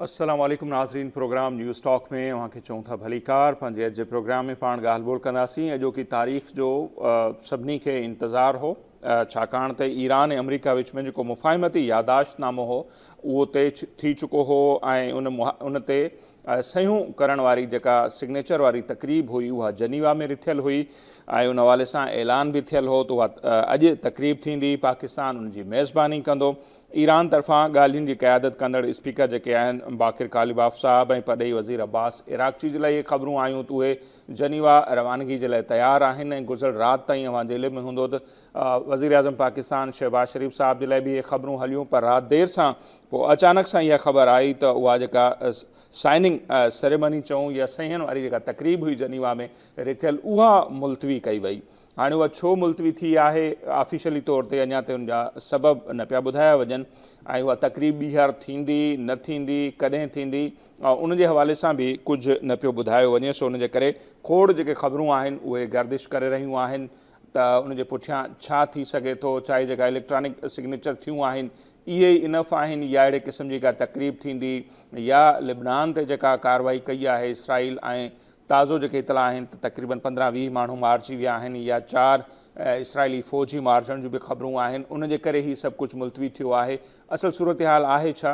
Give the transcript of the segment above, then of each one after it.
السلام عليڪم ناظرين پروگرام نيوز ٽاڪ ۾ اوهان کي چئون ٿا ڀليڪار پنهنجي اڄ جي پروگرام ۾ پاڻ ڳالهه ٻولهه ڪنداسين اڄوڪي تاريخ جو سڀني کي انتظار هو ڇاڪاڻ ته ايران ۽ آمريڪا وچ ۾ جيڪو مفاهمتي ياداشت نامو هو اهو طئي ٿي چڪو هو ۽ ان تي سهيون ڪرڻ واري جيڪا سگنيچر واري تقريب هئي اها جنيوا ۾ رٿيل هئي ۽ ان حوالي سان اعلان به ٿيل هو ته اها اڄ تقريب ٿيندي پاڪستان ان جي ميزباني ڪندو ايران طرفان ڳالهين جي قيادت ڪندڙ اسپيڪر جيڪي آهن باقر قالباف صاحب ۽ پرڏيهي وزير عباس عراقچي جي لاء اهي خبرون آيون ته اهي جنيوا روانگي جي لاء تيار آهن ۽ گذريل رات تائين اوهان جي علم ۾ هوندو ته وزيراعظم پاڪستان شهباز شريف صاحب جي لاء به اهي خبرون هليون پر رات دير سان پوء اچانڪ سان اها خبر آئي ته اها جيڪا سائننگ سريمني چئون يا صحيحن واري جيڪا تقريب هئي جنيوا ۾ رٿيل اها ملتوي ڪئي وئي هاڻي اها ڇو ملتوي ٿي آهي، آفيشلي طور تي اڃا تائين ان جا سبب نه پيا ٻڌايا وڃن ۽ اها تقريب ٻيهر ٿيندي، نه ٿيندي، ڪڏهن ٿيندي، ان جي حوالي سان به ڪجهه نه پيو ٻڌايو وڃي، سو ان جي ڪري کوڙ جيڪي خبرون آهن اهي گردش ڪري رهيون آهن ته ان جي پٺيان ڇا ٿي سگهي ٿو، ڇا اهي جيڪا اليڪٽرانڪ سگنيچر ٿيون آهن اهي ئي انف آهن يا اهڙي قسم جي ڪا تقريب ٿيندي يا لبنان تي جيڪا ڪارروائي ڪئي آهي اسرائيل ۽ تازو جيڪي اطلاع آهن ته تقريبن پندرهن ويهه ماڻهو مارجي ويا آهن يا چار اسرائيلي فوجي مارجڻ جون به خبرون آهن ان جي ڪري هي سڀ ڪجهه ملتوي ٿيو آهي اصل صورتحال آهي ڇا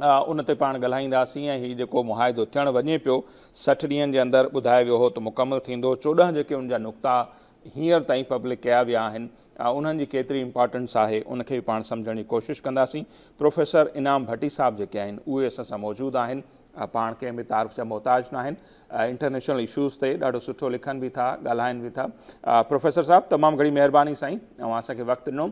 ان تي پاڻ ڳالهائينداسين ۽ هي جيڪو معاهدو ٿيڻ وڃي پيو سٺ ڏينهن جي اندر ٻڌايو ويو هو ته مڪمل ٿيندو چوڏهن جيڪي ان جا نقطا هينئر تائين پبلڪ ڪيا ويا آهن ها انهن جي ڪيتري امپارٽنس آهي ان کي به پاڻ سمجهڻ جي ڪوشش ڪنداسين. پروفيسر انعام ڀٽي صاحب جيڪي آهن اهي اسان سان موجود آهن. پاڻ ڪنهن به تعارف جا محتاج ناهن. انٽرنيشنل اشوز تي ڏاڍو سٺو لکن به ٿا ڳالهائن به ٿا. پروفيسر صاحب تمام گهڻي مهرباني سائين اوهان اسان کي وقت ڏنو.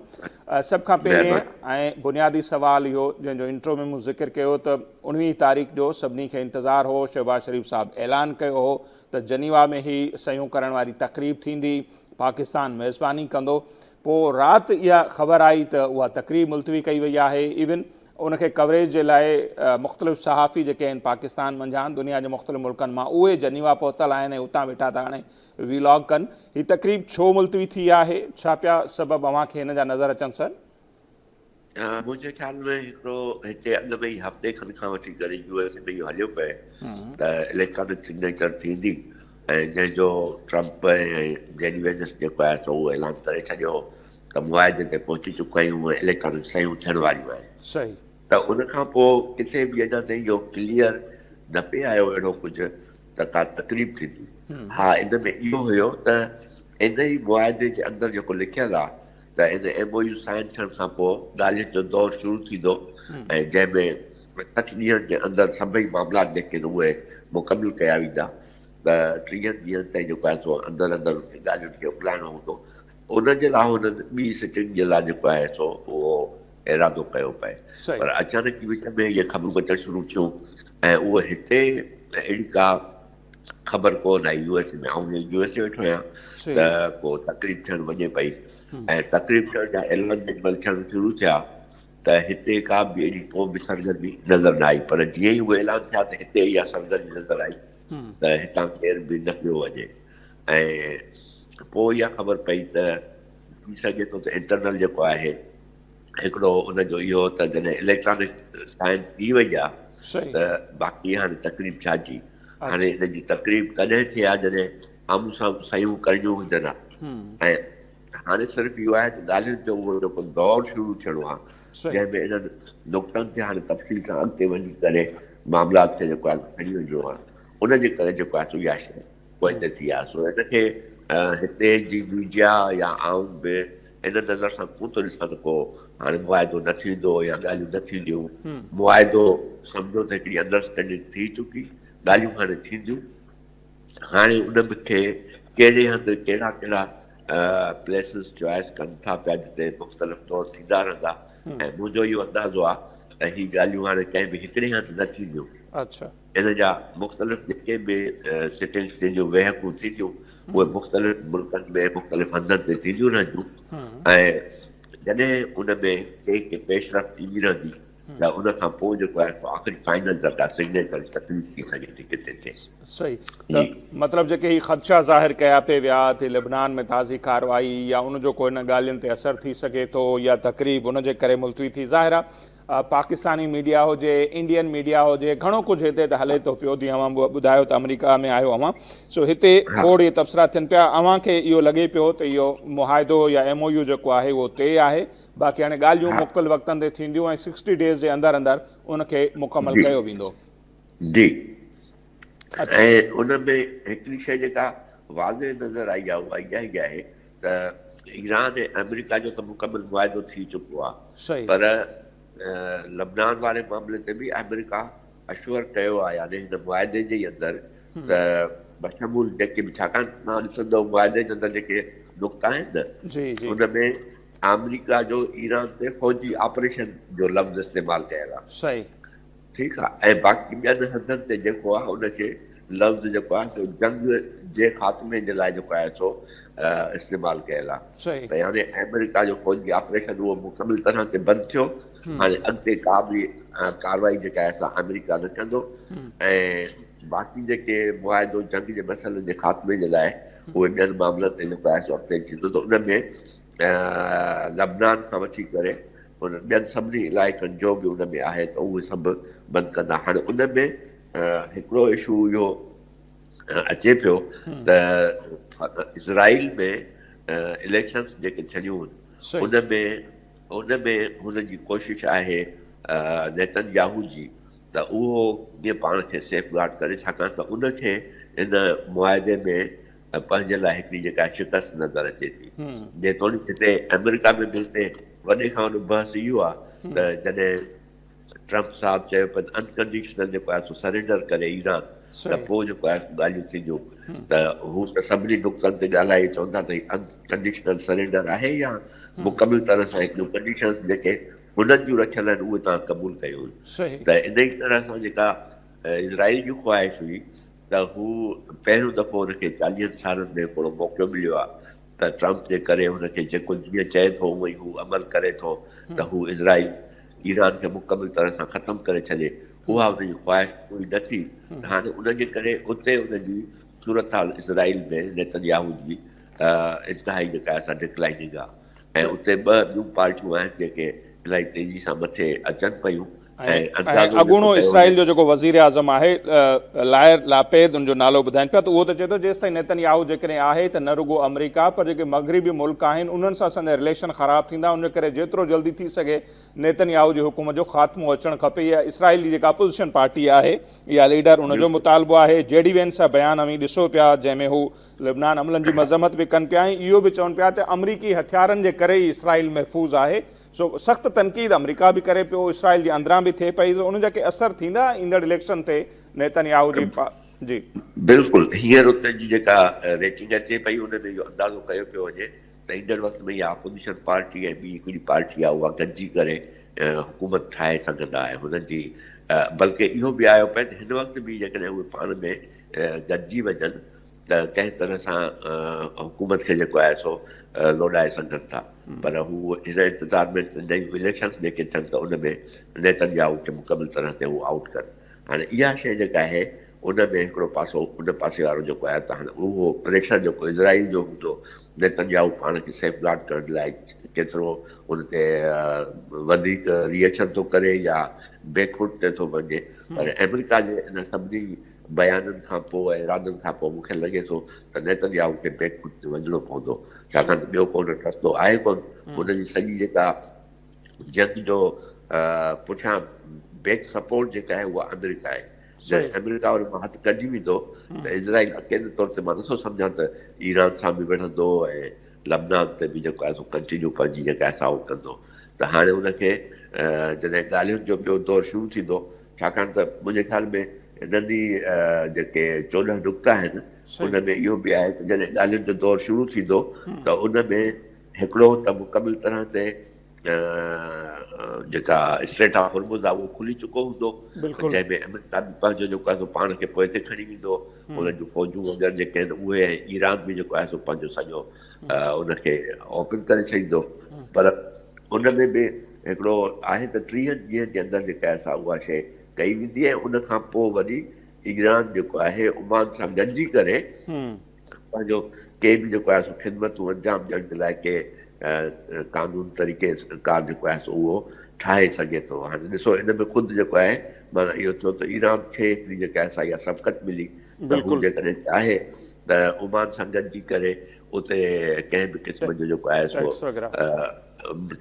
سڀ کان پهرين ۽ بنيادي سوال اهو جنهن جو انٽرو ۾ مون ذڪر ڪيو ته اڻويهين تاريخ جو سڀني کي انتظار هو شهباز شريف صاحب اعلان ڪيو هو ته جنيوا ۾ هي صحيحون ڪرڻ واري تقريب ٿيندي. پاڪستان ميزباني ڪندو پوء رات اها خبر آئي ته اها تقريب ملتوي ڪئي وئي آهي ايون ان کي ڪوريج جي لاء مختلف صحافي جيڪي آهن پاڪستان منجهان دنيا جي مختلف ملڪن مان اهي جنيوا پهتل آهن ۽ اتان ويٺا ٿا هاڻي ويلاگ ڪن هي تقريب ڇو ملتوي ٿي آهي ڇا پيا سبب اوهان کي هن جا نظر اچن سر منهنجي خيال ۾ هڪڙو هتي اڳ ۾ ئي هفتي کن کان وٺي جڏهن يو ايس اي ۾ اهو هليو پئي ته اليڪٽرانڪ سگنيچر ٿيندي ۽ جنهن جو ٽرمپ ۽ جيني وينس جيڪو آهي سو اهو اعلان ڪري ڇڏيو هو ته معاهدي تي پهچي چڪا آهيون ۽ اليڪٽرانڪ سيون ٿيڻ واريون آهن صحيح ته ان کان پوء ڪٿي به اڃا تائين اهو ڪليئر نه پئي آيو اهڙو ڪجهه ته ڪا تقريب ٿيندي ها ان ۾ اهو هيو ته ان ئي معاهدي جي اندر جيڪو لکيل آهي ته ان ايم او يو سائن ٿيڻ کان پوء ڳالهين جو دور شروع ٿيندو ۽ جنهن ۾ سٺ ڏينهن جي اندر سڀئي معاملا جيڪي آهن اهي مڪمل ڪيا ويندا ته ٽيهن ڏينهن تائين جيڪو آهي سو اندر اندر انهن ڳالهين کي اڪلائڻو هوندو ان جي لاء هنن ٻي سٽنگ جي لاء جيڪو آهي سو اهو ارادو ڪيو پئي پر اچانڪ ئي وچ ۾ اهي خبرون اچڻ شروع ٿيون ۽ اهو هتي اهڙي ڪا خبر ڪو نه آئي يو ايس اي ۾ آئون جي يو ايس اي ويٺو آهيان ته صحيح ڪو تقريب ٿيڻ وڃي پئي ۽ تقريب ٿيڻ جا اعلان جڏهن مهل ٿيڻ شروع ٿيا ته هتي ڪا به اهڙي ڪو به سرگرمي نظر نه آئي پر جيئن ئي اهي اعلان ٿيا ته هتي اها سرگرمي نظر آئي ته هتان ڪير به نه پيو وڃي ۽ پوء اها خبر پئي ته ٿي سگهي ٿو ته انٽرنل جيڪو آهي هڪڙو ان جو اهو ته جڏهن اليڪٽرانڪ سائن ٿي وئي آ ته باقي هاڻي تقريب ڇا جي هاڻي ان جي تقريب تڏهن ٿئي آ جڏهن آمهون سامهون صحيحون ڪرڻيون هجن آ ۽ هاڻي صرف اهو آهي ته ڳالهين جو اهو جيڪو دور شروع ٿيڻو آ جنهن ۾ انهن نقطن تي هاڻي تفصيل سان اڳتي وڃي ڪري معاملات کي جيڪو آهي سو کڻي وڃڻو آ ان جي ڪري جيڪو آهي سو اها شيء وڃي ٿي ها سو هن کي هتي جي ميڊيا يا عوام به ان نظر سان ڪون ٿو ڏسان ته ڪو هاڻي معاهدو نه ٿيندو يا ڳالهيون نه ٿينديون معاهدو سمجهو ته هڪڙي انڊرسٽينڊنگ ٿي چڪي ڳالهيون هاڻي ٿينديون هاڻي ان به کي ڪهڙي هنڌ ڪهڙا ڪهڙا پليسز چوائس ڪن ٿا پيا جتي مختلف دور ٿيندا رهندا ۽ منهنجو اهو اندازو آهي ته هي ڳالهيون هاڻي ڪنهن به هڪڙي هنڌ نه ٿينديون ان جا مختلف جيڪي به سٽنگس جن جون ويهڪون ٿينديون اهي مختلف ملڪن ۾ مختلف هنڌن تي ٿينديون رهنديون ۽ جڏهن ان ۾ ڪنهن ڪي پيشرفت ايندي رهندي ته ان کان پوء جيڪو آهي سو آخري فائنل درجا سگنيچر جي تقريب ٿي سگهي ٿي ڪٿي ٿئي. صحيح ته مطلب جيڪي هي خدشا ظاهر ڪيا پئي ويا ته لبنان ۾ تازي ڪارروائي يا ان جو ڪو هن ڳالهين تي اثر ٿي سگهي ٿو يا تقريب ان جي ڪري ملتوي ٿي ظاهر آهي پاڪستاني ميڊيا هجي انڊين ميڊيا هجي گهڻو ڪجهه هتي ته هلي ٿو پيو جي اوهان ٻڌايو ته آمريڪا ۾ آهيو اوهان سو هتي کوڙ اهي تبصرا ٿين پيا اوهان کي اهو لڳي پيو ته اهو معاهدو يا ايم او يو جيڪو آهي اهو طئي آهي باقي هاڻي ڳالهيون مختلف وقتن تي ٿينديون ۽ سڪسٽي ڊيز جي اندر اندر ان کي مڪمل ڪيو ويندو جي ۽ ان ۾ هڪڙي شئي جيڪا واضح نظر آئي آهي اها اها ئي آهي ته ايران ۽ آمريڪا جو ته مڪمل معاهدو ٿي چڪو آهي صحيح. پر لبنان واري معاملي تي به آمريڪا اشور ڪيو آهي يعني هن معاهدي جي ئي اندر ته بشمول جيڪي به ڇاڪاڻ تون ڏسندو معاهدي جي اندر جيڪي نقطا آهن نه جي جي. ان ۾ آمريڪا جو ايران تي فوجي آپريشن جو لفظ استعمال ڪيل آهي. صحيح. ٺيڪ آ ۽ باقي ٻين هنڌن تي جيڪو آ ان کي لفظ جيڪو آ سو جنگ جي خاتمي جي لاء جيڪو آهي سو استعمال ڪيل آ ته هاڻي آمريڪا جو فوجي آپريشن اهو مڪمل طرح تي بند ٿيو هاڻي اڳتي ڪا به ڪاروائي جيڪا آهي سا آمريڪا نه ڪندو ۽ باقي جيڪي معاهدو جنگ جي مسئلن جي خاتمي جي لاء اهي ٻين معاملن تي جيڪو آهي سو اڳتي ٿيندو ته ان ۾ لبنان کان وٺي ڪري انهن ٻين سڀني علائقن جو به ان ۾ آهي ته اهي سڀ بند ڪندا. هاڻي ان ۾ هڪڙو اشو اهو اچي پيو ته اسرائيل ۾ اليڪشنس جيڪي ٿيڻيون هن ان ۾ ان ۾ هن جي ڪوشش آهي نيتن ياهو جي ته اهو ڪيئن پاڻ کي سيف گارڊ ڪري ڇاڪاڻ ته ان کي ان معاهدي ۾ ۽ پنهنجي لاء هڪڙي جيڪا شڪست نظر اچي ٿي. جيتوڻيڪ هتي آمريڪا ۾ به هتي وڏي کان وڏو بحث اهو آ ته جڏهن ٽرمپ صاحب چيو ته انڪنڊيشنل جيڪو آهي سو سرينڊر ڪري ايران ته پوء جيڪو آهي سو ڳالهيون ٿينديون ته هو ته سڀني نقطن تي ڳالهائي چون ٿا ته هي انڪنڊيشنل سرينڊر آهي يا مڪمل طرح سان هڪڙيون ڪنڊيشنز جيڪي هنن جون رکيل آهن اهي توهان قبول ڪيون ته انهي طرح سان جيڪا اسرائيل جي خواهش هئي ته هو پهريون دفعو هن کي چاليهن سالن ۾ هڪڙو موقعو مليو آهي ته ٽرمپ جي ڪري هن کي جيڪو جيئن چئي ٿو اونئن هو عمل ڪري ٿو ته هو اسرائيل ايران کي مڪمل طرح سان ختم ڪري ڇڏي اها هن جي خواهش پوري نه ٿي ته هاڻي ان جي ڪري اتي ان جي صورتحال اسرائيل ۾ نيتنياهو جي انتهائي جيڪا اسان ڊڪلائننگ آهي ۽ اتي ٻه ٻيون پارٽيون آهن جيڪي الاهي تيزي سان مٿي اچن پيون ۽ ۽ اڳوڻو اسرائيل جو جيڪو وزيراعظم آهي لائر لاپيد ان جو نالو ٻڌائين پيا ته اهو ته چئي ٿو جيستائين نيتن ياهو جيڪڏهن آهي ته نه رڳو آمريڪا پر جيڪي مغربي ملڪ آهن انهن سان اسان جا رليشن خراب ٿيندا ان ڪري جيترو جلدي ٿي سگهي نيتن ياهو جي حڪومت جو خاتمو اچڻ کپي اها اسرائيل جي جيڪا اپوزيشن پارٽي آهي يا ليڊر ان جو مطالبو آهي جي ڊي وينس جا بيان اوهين ڏسو پيا جنهن ۾ هو لبنان عملن جي مذمت به ڪن پيا ۽ اهو به چون پيا ته آمريڪي هٿيارن جي ڪري ئي اسرائيل محفوظ آهي، سو سخت تنقيد آمريڪا به ڪري پيو، اسرائيل جي اندران به ٿئي پئي، سو ان جا ڪي اثر ٿيندا ايندڙ اليڪشن تي نيتن ياهو جي پ جي. بلڪل هينئر اتي جي جيڪا ريٽنگ اچي پئي ان ۾ اهو اندازو ڪيو پيو وڃي ته ايندڙ وقت ۾ اها اپوزيشن پارٽي ۽ ٻي هڪڙي پارٽي آهي اها گڏجي ڪري حڪومت ٺاهي سگهندا ۽ هنن جي بلڪه اهو به آيو پئي ته هن وقت به جيڪڏهن اهي پاڻ ۾ گڏجي وڃن ته ڪنهن طرح سان حڪومت کي جيڪو آهي سو لوڏائي سگهن ٿا پر هو هن انتظار ۾ نيون اليڪشنس جيڪي ٿين ته ان ۾ نيتن ياهو کي مڪمل طرح تي هو آئوٽ ڪن هاڻي اها شيء جيڪا آهي ان ۾ هڪڙو پاسو ان پاسي وارو جيڪو آهي ته هاڻي اهو پريشر جيڪو اسرائيل جو هوندو نيتن ياهو پاڻ کي سيف گارڊ ڪرڻ لاء ڪيترو ان تي وڌيڪ ري ايڪشن ٿو ڪري يا بيڪ فوٽ تي ٿو وڃي پر آمريڪا جي ان سڀني بيانن کان پوء ۽ ارادن کان پوء مون کي لڳي ٿو ته نيتنياهو کي بيڪ فوٽ تي وڃڻو پوندو ڇاڪاڻ ته ٻيو ڪو نه رستو آهي ڪون هن جي سڄي جيڪا جنگ جو پٺيان بيڪ سپورٽ جيڪا آهي اها آمريڪا آهي جڏهن آمريڪا ان مان هٿ ڪڍي ويندو ته اسرائيل اڪيلي طور تي مان نٿو سمجهان ته ايران سان به وڙهندو ۽ لبنان تي به جيڪو آهي سو ڪنٽينيو پنهنجي جيڪا آهي سا اهو ڪندو ته هاڻي ان کي جڏهن ڳالهين جو ٻيو دور شروع ٿيندو ڇاڪاڻ ته منهنجي خيال ۾ انهن ئي جيڪي چوڏهن نقطا آهن ان ۾ اهو به آهي ته جڏهن ڳالهين جو دور شروع ٿيندو ته ان ۾ هڪڙو ته مڪمل طرح تي جيڪا اسٽريٽ آف هرمز آهي اهو کلي چڪو هوندو جنهن ۾ امريڪا به پنهنجو جيڪو آهي سو پاڻ کي پوئتي کڻي ويندو انهن جون فوجون وغيره جيڪي آهن اهي ۽ ايران به جيڪو آهي سو پنهنجو سڄو ان کي اوپن ڪري ڇڏيندو پر ان ۾ به هڪڙو آهي ته ٽيهن ڏينهن جي اندر جيڪا آهي سا اها شيء ڪئي ويندي ۽ ان کان پوء وري ايران جيڪو آهي عمان سان گڏجي ڪري پنهنجو ڪي به جيڪو آهي سو خدمتون انجام ڏيڻ جي لاء ڪي قانون طريقي ڪار جيڪو آهي سو اهو ٺاهي سگهي ٿو هاڻي ڏسو ان ۾ خود جيڪو آهي معنيٰ اهو ٿيو ته ايران کي هڪڙي جيڪا آهي سا اها سبقت ملي ته هو جيڪڏهن چاهي ته عمان سان گڏجي ڪري اتي ڪنهن به قسم جو جيڪو آهي سو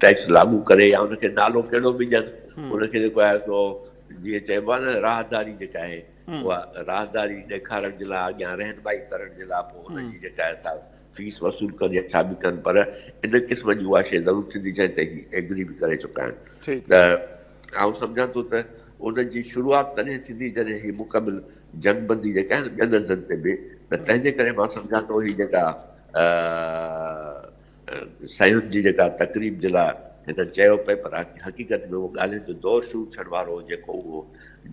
ٽيڪس لاڳو ڪري يا ان کي نالو ڪهڙو به ڏين ان کي جيڪو آهي سو جيئن چئبو آهي نه راهداري جيڪا آهي اها راهداري ڏيکارڻ جي لاء اڳيان رهنمائي ڪرڻ جي لاء پوء ان جي جيڪا آهي سا فيس وصول ڪن يا ڇا به ڪن پر ان قسم جي اها شيء ضرور ٿيندي جنهن تي هي ايگري به ڪري چڪا آهن ته آئون سمجهان ٿو ته ان جي شروعات تڏهن ٿيندي جڏهن هي مڪمل جنگ بندي جيڪا آهي نه ٻين هنڌن تي به ته تنهنجي ڪري مان سمجهان ٿو هي جيڪا سهيون جي جيڪا تقريب جي لاء هنن چيو پئي پر حقيقت ۾ اهو ڳالهين جو دور شروع ٿيڻ وارو هو جيڪو اهو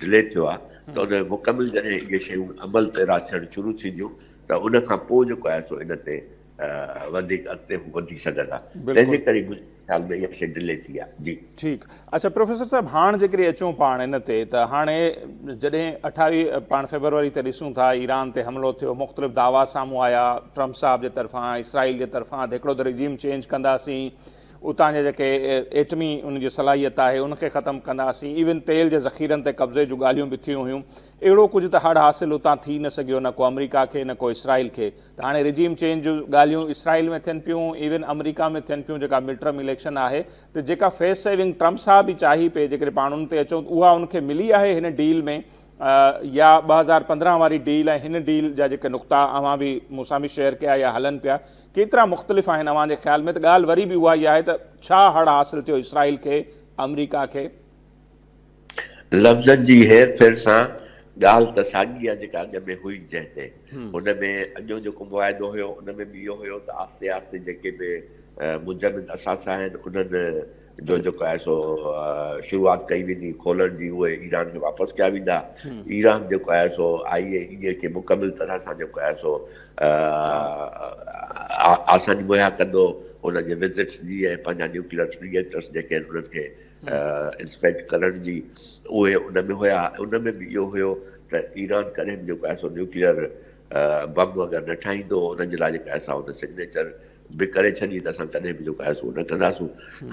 ڊلي ٿيو آهي ته ان ۾ مڪمل جڏهن اهي شيون عمل پيرا ٿيڻ شروع ٿينديون ته ان کان پوء جيڪو آهي سو ان تي وڌيڪ اڳتي به وڌي سگهندا تنهن جي ڪري منهنجي خيال ۾ اها شيء ڊلي ٿي آهي جي. ٺيڪ اڇا پروفيسر صاحب هاڻ جيڪڏهن اچون پاڻ ان تي ته هاڻي جڏهن اٺاويهه پاڻ فيبروري تي ڏسون ٿا ايران تي حملو ٿيو مختلف دعويٰ سامهون آيا ٽرمپ صاحب جي طرفان اسرائيل جي طرفان ته هڪڙو ته رجيم چينج ڪنداسين اتان جا جيڪي ايٽمي ان جي صلاحيت آهي ان کي ختم ڪنداسين ايون تيل جي ذخيرن تي قبضي جون ڳالهيون به ٿيون هيون اهڙو ڪجهه ته هڙ حاصل اتان ٿي نه سگهيو نه ڪو آمريڪا کي نه ڪو اسرائيل کي ته هاڻي رجيم چينج جون ڳالهيون اسرائيل ۾ ٿين پيون ايون امريڪا ۾ ٿين پيون جيڪا مڊ ٽرم اليڪشن آهي ته جيڪا فيس سيونگ ٽرمپ صاحب ئي چاهي پئي جيڪڏهن پاڻ ان تي اچون ته اها ان کي ملي آهي هن ڊيل ۾ يا ٻه هزار پندرهن واري ڊيل ۽ هن ڊيل جا جيڪي نقطا اوهان به مون سان به شيئر ڪيا يا هلن پيا ڪيترا مختلف آهن اوهان جي خيال ۾ ته ڳالهه وري به اها ئي آهي ته ڇا هڙ حاصل ٿيو اسرائيل کي امريڪا کي لفظن جي هير ڦير سان ڳالهه ته ساڳي آ جيڪا اڳ ۾ هئي جنهن تي هن ۾ اڳيون جيڪو معاهدو هيو ان ۾ به اهو هيو ته آهستي آهستي جيڪي به منجمد اثاثا آهن انهن جو جيڪو آهي سو شروعات ڪئي ويندي کولڻ جي اهي ايران کي واپس ڪيا ويندا ايران جيڪو آهي سو آئي اي اي کي مڪمل طرح سان جيڪو آهي سو آساني مهيا ڪندو ان جي وزٽس جي ۽ پنهنجا نيوڪليئر ري ايڪٽرس جيڪي آهن انهن کي اسپينڊ ڪرڻ جي اهي ان ۾ هيا ان ۾ به اهو هيو ته ايران ڪڏهن به جيڪو آهي سو نيوڪليئر بم وغيره نه ٺاهيندو ان جي لاء جيڪا آهي سا ان سگنيچر به ڪري ڇڏي ته اسان ڪڏهن به جيڪو آهي سو نه ڪنداسون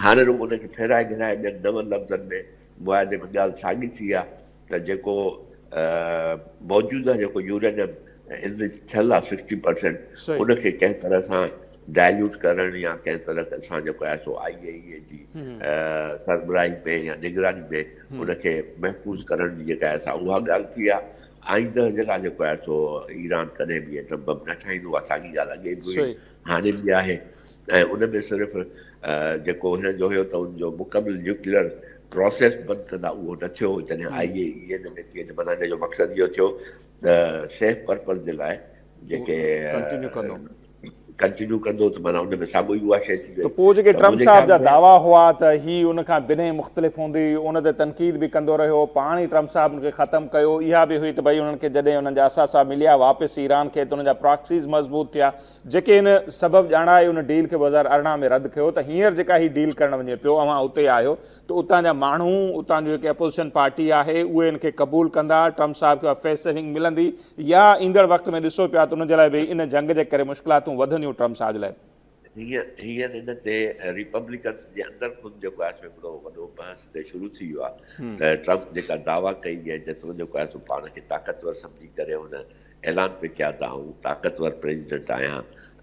هاڻي رڳو ان کي ڦيرائي گهيرائي ٻين نون لفظن ۾ معاهدي ۾ ڳالهه ساڳي ٿي آهي ته جيڪو موجوده جيڪو يورينم انرچ ٿيل آهي سڪسٽي پرسينٽ ان کي ڪنهن طرح سان ڊائليوٽ ڪرڻ يا ڪنهن طرح سان جيڪو آهي سو آء اي اي جي سربراهي ۾ يا نگراني ۾ ان کي محفوظ ڪرڻ جي جيڪا آهي سا اها ڳالهه ٿي آهي آئنده جي لاء جيڪو آهي سو ايران ڪڏهن به ايٽم بم نه ٺاهيندو اها ساڳي ڳالهه اڳي به هئي هاڻي به آهي ۽ ان ۾ صرف جيڪو هنن جو هيو ته ان جو مڪمل نيوڪليئر پراسيس بند ڪندا اهو نه ٿيو جڏهن آء اي اي ان ۾ ٿئي ته معنيٰ ان جو مقصد اهو ٿيو ته سيف پرپز جي لاء جيڪي ڪنٽينيو ڪندو ڪنٽينيو ڪندو ته معنيٰ ان ۾ ساڳو ئي اها شيء ٿي وئي ته پوء جيڪي ٽرمپ صاحب جا دعويٰ هئا ته هي ان کان بنهه مختلف هوندي ان تي تنقيد به ڪندو رهيو پاڻ ئي ٽرمپ صاحب ان کي ختم ڪيو اها به هئي ته ڀئي انهن کي جڏهن انهن جا اثاثا مليا واپس ايران کي ته انهن جا پراڪسيز مضبوط ٿيا جيڪي ان سبب ڄاڻائي ان ڊيل کي ٻه هزار ارڙهن ۾ رد ڪيو ته هينئر جيڪا هي ڊيل ڪرڻ وڃي پيو اوهان اتي آهيو ته اتان جا ماڻهو اتان جو جيڪي اپوزيشن پارٽي آهي اهي ان کي قبول ڪندا ٽرمپ صاحب کي اها فيس سيونگ ملندي يا ايندڙ وقت ۾ ڏسو پيا ته ان جي لاء به ان جنگ جي ڪري مشڪلاتون وڌنديون ٽرمپ صاحب جي لاء هينئر ان تي ريپبليڪنس جي اندر خود جيڪو آهي سو هڪڙو وڏو بحث اتي شروع ٿي ويو آهي ته ٽرمپ جيڪا دعويٰ ڪئي ۽ جيترو جيڪو آهي سو پاڻ کي طاقتور سمجهي ڪري هن اعلان پئي ڪيا ته آئون طاقتور پريزيڊنٽ آهيان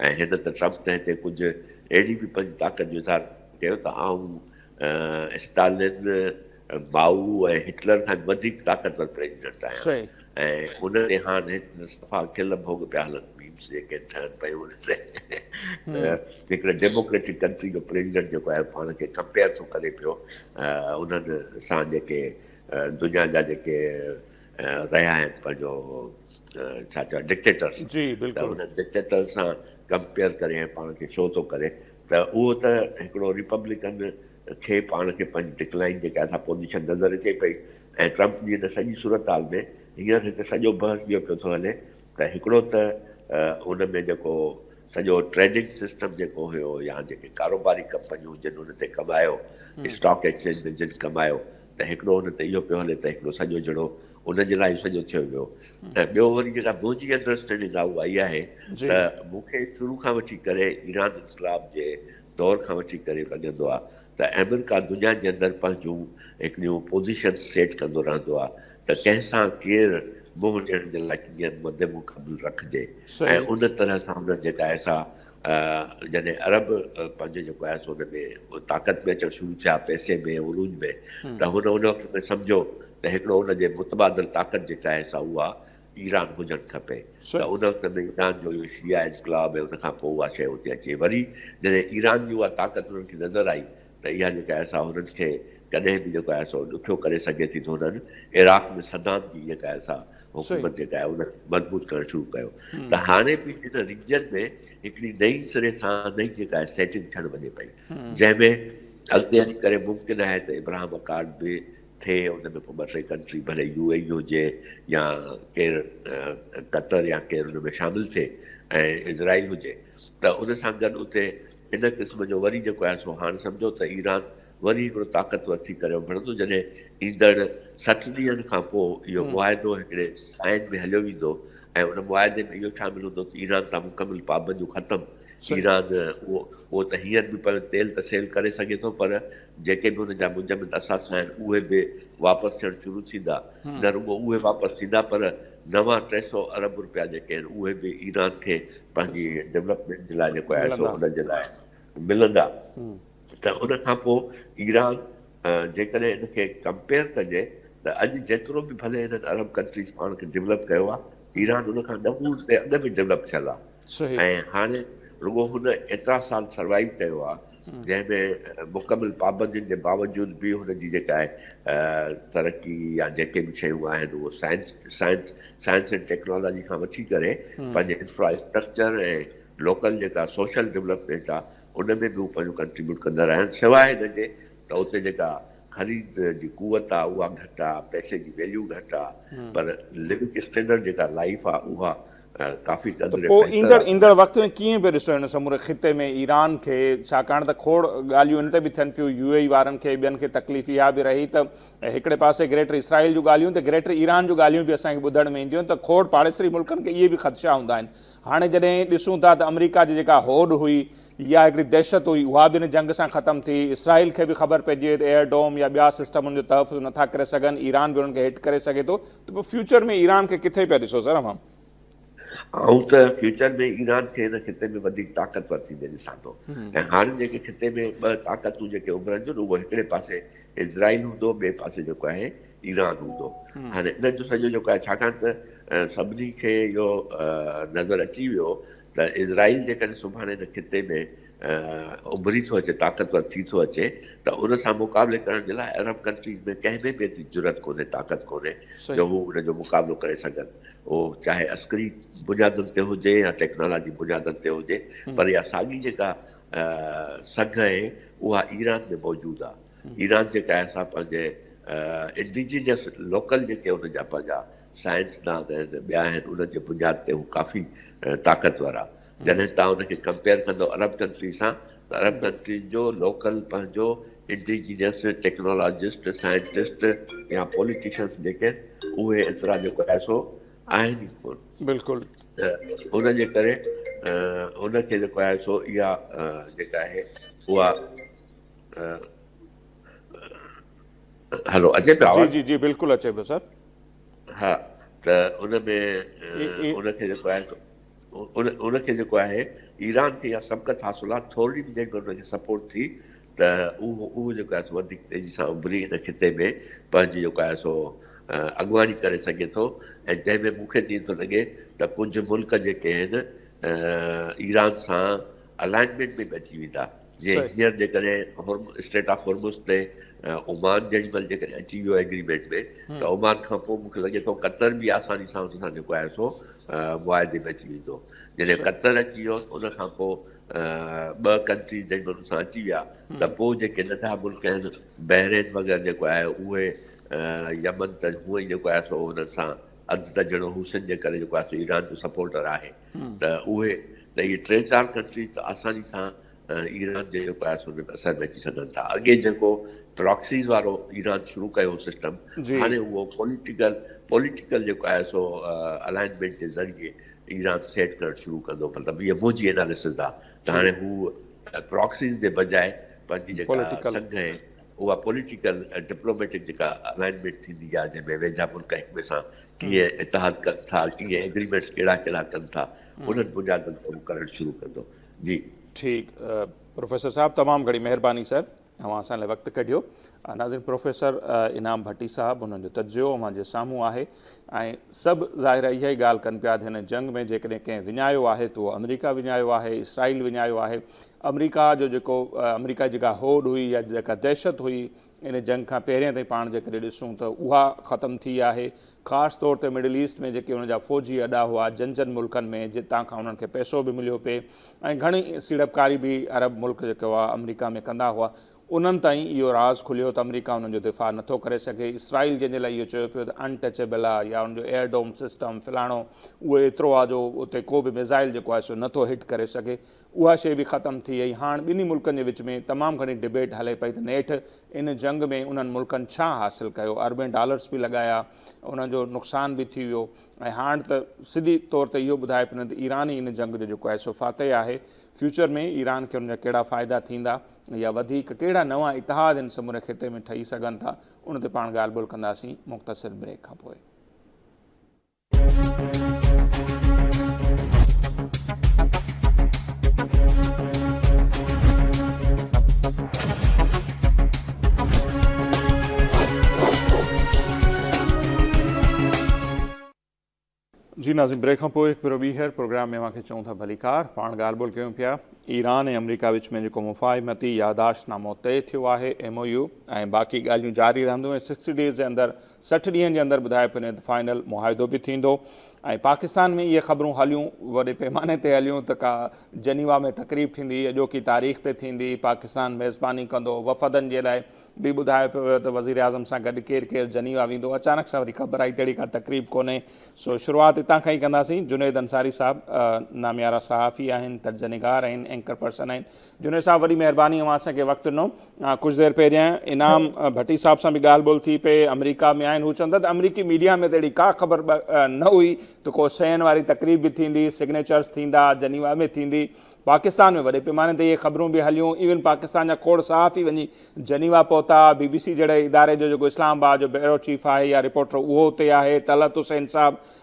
۽ هن ته ٽرمپ تنهن تي ڪجهه اهڙي به پنهنجي طاقت جو اظهار ڪيو ته آئون اسٽالن، مائو ۽ هٽلر کان به وڌيڪ طاقتور پريزيڊنٽ آهيان ۽ ان تي هاڻ هتي صفا کل ڀوڳ پيا هلن ميمز جيڪي ٺهن پيون ان تي ته هڪڙي ڊيموڪريٽڪ ڪنٽري جو پريزيڊنٽ جيڪو آهي پاڻ کي ڪمپيئر ٿو ڪري پيو انهن سان جيڪي دنيا جا جيڪي رهيا آهن پنهنجو ڇا چئبو آهي ڊڪٽيٽر سان جي ته بلڪل. هن ڊڪٽيٽر سان ڪمپيئر ڪري ۽ پاڻ کي شو ٿو ڪري ته اهو ته هڪڙو ريپبلڪن کي پاڻ کي پنهنجي ڊڪلائن جيڪا اسان پوزيشن نظر اچي پئي ۽ ٽرمپ جي هن سڄي صورتحال ۾ هينئر هڪ سڄو بحث جيئن پيو ٿو هلي ته هڪڙو ته ان ۾ جيڪو سڄو ٽريڊنگ سسٽم جيڪو هيو يا جيڪي ڪاروباري ڪمپنيون جن ان تي ڪمايو اسٽاڪ ايڪسچينج ۾ جن ڪمايو ته هڪڙو ان تي اهو پيو هلي ته هڪڙو سڄو جهڙو ان جي لاء سڄو ٿيو ويو ته ٻيو وري جيڪا منهنجي انڊرسٽينڊنگ آهي اها اها آهي ته مون کي شروع کان وٺي ڪري ايران انقلاب جي دور کان وٺي ڪري لڳندو آهي ته آمريڪا دنيا جي اندر پنهنجون هڪڙيون پوزيشنز سيٽ ڪندو رهندو آهي ته ڪنهن سان ڪير منهن ڏيڻ جي لاء ڪيئن مدمقابل رکجي ۽ ان طرح سان هنن جيڪا آهي سا جڏهن عرب پنهنجو جيڪو آهي سو ان ۾ طاقت ۾ اچڻ شروع ٿيا، پئسي ۾ ۽ عروج ۾ ته هن ان وقت ۾ سمجهيو ته هڪڙو ان جي متبادل طاقت جيڪا آهي سا اها ايران هجڻ کپي ته ان وقت ۾ ايران جو اهو شيعا انقلاب ۽ ان کان پوء اها شيء اتي اچي وري جڏهن ايران جي اها طاقت انهن کي نظر آئي ته اها جيڪا احسا هنن کي ڪڏهن به جيڪو آهي سو ڏکيو ڪري سگهي ٿي ته هنن عراق ۾ صدام جي جيڪا آهي سا حڪومت جيڪا آهي ان کي مضبوط ڪرڻ شروع ڪيو ته هاڻي به ان ريجن ۾ هڪڙي نئين سري سان نئين جيڪا آهي سيٽنگ ٿيڻ وڃي پئي جنهن ۾ اڳتي هلي ڪري ممڪن آهي ته ابراهم اڪارڊ به ٿئي ان ۾ پوء ٻه ٽي ڪنٽري ڀلي يو اي اي هجي يا ڪير قطر يا ڪير ان ۾ شامل ٿئي ۽ اسرائيل هجي ته ان سان گڏ اتي هن قسم جو وري جيڪو آهي سو هاڻ سمجهو ته ايران وري هڪڙو طاقتور ٿي ڪري اڀرندو جڏهن ايندڙ سٺ ڏينهن کان پوء اهو معاهدو هڪڙي سائين ۾ هليو ويندو ۽ ان معاهدي ۾ اهو شامل هوندو ته ايران تان مڪمل پابنديون ختم ايران اهو ته هينئر به پنهنجو تيل ته سيل ڪري سگهي ٿو پر جيڪي به ان جا منجمد اثاثا آهن اهي به واپس ٿيڻ شروع ٿيندا نه رڳو اهي واپس ٿيندا پر نوان ٽي سئو ارب روپيا جيڪي آهن اهي به ايران کي پنهنجي ڊولپمينٽ جي لاء جيڪو آهي سو ان جي لاء ملندا ته ان کان پوء ايران جيڪڏهن ان کي ڪمپيئر ڪجي ته اڄ جيترو به ڀلي هنن ارب ڪنٽريز پاڻ کي ڊولپ ڪيو آهي ايران ان کان ڏهه گڻي اڳ ۾ ڊولپ ٿيل آهي ۽ هاڻي رڳو هن ايترا سال سروائيو ڪيو آهي جنهن ۾ مڪمل پابندين جي باوجود به هن جي جيڪا آهي ترقي يا جيڪي به شيون آهن اهو science science science and technology کان وٺي ڪري پنهنجي انفراسٽرڪچر ۽ لوڪل جيڪا سوشل ڊولپمينٽ آهي ان ۾ به هو پنهنجو ڪنٽريبيوٽ ڪندا رهيا آهن سواء هن جي ته اتي جيڪا خريد جي قوت آهي اها گهٽ آهي پئسي جي ويليو گهٽ آهي پر لوڪ اسٽينڊرڊ جيڪا لائف آهي اها ڪافي قدر بهتر آهي. ته پوء ايندڙ وقت ۾ ڪيئن پيو ڏسو هن سموري خطي ۾ ايران کي؟ ڇاڪاڻ ته کوڙ ڳالهيون ان تي به ٿين پيون، يو اي اي وارن کي ٻين کي تڪليف اها به رهي ته هڪڙي پاسي گريٽر اسرائيل جون ڳالهيون ته گريٽر ايران جون ڳالهيون به اسان کي ٻڌڻ ۾ اينديون ته کوڙ پاڙيسري ملڪن کي اهي به خدشا هوندا آهن. هاڻي جڏهن ڏسون ٿا ته آمريڪا جي جيڪا هوڏ هئي يا هڪڙي دهشت هئي اها به ان جنگ سان ختم ٿي، اسرائيل کي به خبر پئجي وئي ته ايئر ڊوم يا ٻيا سسٽم ان جو تحفظ نٿا ڪري سگهن، ايران به انهن کي هٽ ڪري سگهي ٿو، ته پوء فيوچر ۾ ايران کي ڪٿي پيا ڏسو سر اوهان؟ آئون ته فيوچر ۾ ايران کي هن خطي ۾ وڌيڪ طاقتور ٿيندي ڏسان ٿو ۽ هاڻي جيڪي خطي ۾ ٻه طاقتون جيڪي اڀرن ٿيون اهو هڪڙي پاسي اسرائيل هوندو ٻئي پاسي جيڪو آهي ايران هوندو هاڻي انهن جو سڄو جيڪو آهي ڇاڪاڻ ته سڀني کي اهو نظر اچي ويو ته اسرائيل جيڪڏهن سڀاڻي هن خطي ۾ اڀري ٿو اچي طاقتور ٿي ٿو اچي ته ان سان مقابلي ڪرڻ جي لاء عرب ڪنٽريز ۾ ڪنهن ۾ به ايتري جرئت ڪونهي طاقت ڪونهي جو هو ان جو مقابلو ڪري سگهن اهو چاهي عسڪري بنيادن تي هجي يا ٽيڪنالاجي بنيادن تي هجي پر اها ساڳي جيڪا سگهه آهي اها ايران ۾ موجود آهي ايران جيڪا آهي سا پنهنجي انڊيجينس لوڪل جيڪي ان جا پنهنجا سائنسدان آهن ٻيا آهن انهن جي بنياد تي هو ڪافي طاقتور آهي جڏهن تان ان کي ڪمپيئر ڪندو عرب ڪنٽري سان ته عرب ڪنٽرين جو لوڪل پنهنجو انڊيجينس ٽيڪنالاجسٽ سائنٽسٽ يا پوليٽيشنس جيڪي اهي ايترا جو پئسو آهن ئي ڪون بلڪل ته ان جي ڪري ان کي جيڪو آهي سو اها جيڪا آهي اها هلو اچي پيو جي آواز جي جي بلڪل اچي پيو سر ها ته ان ۾ ان کي جيڪو آهي سو ان کي جيڪو آهي ايران کي اها سبقت حاصل آهي ٿورڙي به جيڪڏهن ان کي سپورٽ ٿي ته اهو جيڪو آهي سو وڌيڪ تيزي سان اڀري ان خطي ۾ پنهنجي جيڪو آهي سو اڳواڻي ڪري سگهي ٿو ۽ جنهن ۾ مون کي تي ٿو لڳي ته ڪجهه ملڪ جيڪي آهن ايران سان الائنمينٽ ۾ به اچي ويندا. جي هينئر جيڪڏهن اسٽريٽ آف هرمز تي عمان جيڏي مهل جيڪڏهن اچي ويو ايگريمينٽ ۾ ته عمان کان پوء مون کي لڳي ٿو قطر به آساني سان ان سان جيڪو آهي سو معاهدي ۾ اچي ويندو جڏهن قطر اچي ويو ان کان پوء ٻه ڪنٽريز جيڏي مهل ان سان اچي ويا ته پوء جيڪي ننڍا ملڪ آهن بحرين وغيره جيڪو آهي اهي يمن ته هونئن ئي جيڪو آهي سو انهن سان اڌ ته جهڙو حوثين جي ڪري جيڪو آهي سو ايران جو سپورٽر آهي ته اهي ته اهي ٽي چار ڪنٽريز ته آساني سان ايران جي قياس هن اثر ۾ اچي سگهن ٿا اڳي جيڪو پراڪسيز وارو ايران شروع ڪيو هو سسٽم هاڻي اهو پوليٽيڪل پوليٽيڪل جيڪو آهي سو الائنمينٽ جي ذريعي ايران سيٽ ڪرڻ شروع ڪندو مطلب هي منهنجي اناليسز آهي ته هاڻي هو پراڪسيز جي بجاء پنهنجي جيڪا سنگهه آهي اها پوليٽيڪل ڊپلوميٽڪ جيڪا الائنمينٽ ٿيندي آهي جنهن ۾ ويجها ملڪ هڪ ٻئي سان ڪيئن اتحاد ڪن ٿا، ڪيئن ايگريمينٽس ڪهڙا ڪهڙا ڪن ٿا، انهن بنيادن تي هو ڪرڻ شروع ڪندو. جي. ٺيڪ پروفيسر صاحب تمام گھڻي مھرباني سر اوھان اسان لاء وقت ڪڍيو ناظرين پروفيسر انعام ڀٽي صاحب انھن جو تجزيو اوھان جي سامھون آھي ۽ سڀ ظاھر اھا ئي ڳالھ ڪن پيا تھ ھن جنگ ۾ جيڪڏھن ڪنھن وڃايو آھي تھ اھو آمريڪا وڃايو آھي اسرائيل وڃايو آھي آمريڪا جو جيڪو آمريڪا جي جيڪا ھوڏ ھئي يا جيڪا دھشت ھئي ان جنگ کان پهرين تائين پاڻ جيڪڏهن ڏسون ته اها ختم ٿي آهي. خاص طور تي مڊل ايسٽ ۾ جيڪي ان جا فوجي اڏا هئا جن جن ملڪن ۾ جتان کان انهن کي پئسو به مليو پئي ۽ گهڻي سيڙپڪاري به عرب ملڪ جيڪي هئا آمريڪا ۾ ڪندا هئا انهن تائين اهو راز کليو ته آمريڪا انهن جو دفاع نه ٿو ڪري سگهي اسرائيل جنهن جي لاء اهو چيو پيو ته ان ٽچيبل آهي يا ان جو ايئر ڊوم سسٽم فلاڻو اهو ايترو آهي جو اتي ڪو به ميزائل جيڪو آهي سو نه ٿو هٽ ڪري سگهي اها شيء به ختم ٿي ۽ هاڻ ٻنهي ملڪن جي وچ ۾ تمام گهڻي ڊبيٽ هلي پئي ته نيٺ ان جنگ ۾ انهن ملڪن ڇا حاصل ڪيو؟ اربين ڊالرس به لڳايا، انهن جو نقصان به ٿي ويو ۽ هاڻ ته سڌي طور تي اهو ٻڌائي پنن ته ايران ئي ان جنگ جو جيڪو آهي سو فاتح آهي، فيوچر ۾ ايران کي ان جا ڪهڙا فائدا ٿيندا يا وڌيڪ ڪهڙا نوان اتحاد هن سموري خطي ۾ ٺهي سگهن ٿا، ان تي پاڻ ڳالهه ٻولهه ڪنداسين مختصر بريڪ کان پوء. جي ناظرين بريڪ کان پوء هڪ ڀيرو ٻيهر پروگرام ۾ اوهان کي چئون ٿا ڀليڪار پاڻ ڳالهه ٻولهه ڪيون پيا ايران ۽ آمريڪا وچ ۾ جيڪو مفاهمتي ياداشت نامو طئي ٿيو آهي ايم او يو ۽ باقي ڳالهيون جاري رهنديون ۽ سڪسٽي ڊيز جي اندر سٺ ڏينهن جي اندر ٻڌائي پني ته فائنل معاهدو به ٿيندو ۽ پاڪستان ۾ اهي خبرون هليون وڏي پيماني تي هليون ته ڪا جنيوا ۾ تقريب ٿيندي اڄوڪي تاريخ تي ٿيندي پاڪستان ميزباني ڪندو وفدن جي لاء به ٻڌايو پيو ويو ته وزيراعظم سان گڏ ڪير ڪير جنيوا ويندو اچانڪ سان وري خبر آئي ته اهڙي ڪا تقريب ڪونهي سو شروعات هتان کان ئي ڪنداسين جنيد انصاري صاحب ناميارا صحافي آهن تجزينگار آهن اينڪر پرسن آهن جنيد صاحب وڏي مهرباني اوهان اسان کي وقت ڏنو ڪجهه دير پهريان انعام ڀٽي صاحب سان به ڳالهه ٻولهه ٿي پئي آمريڪا ۾ آهن هو چون ٿا ته آمريڪي ميڊيا ۾ ته اهڙي ڪا خبر نه هئي ته ڪو سين واري تقريب به ٿيندي سگنيچرز ٿيندا جنيوا ۾ ٿيندي پاڪستان ۾ وڏي پيماني تي اهي خبرون به هليون ايون پاڪستان جا کوڙ صحافي وڃي جنيوا پهتا بي بي سي جهڙي اداري جو جيڪو اسلام آباد جو بيورو چيف آهي يا رپورٽر اهو اتي آهي طلعت حسين صاحب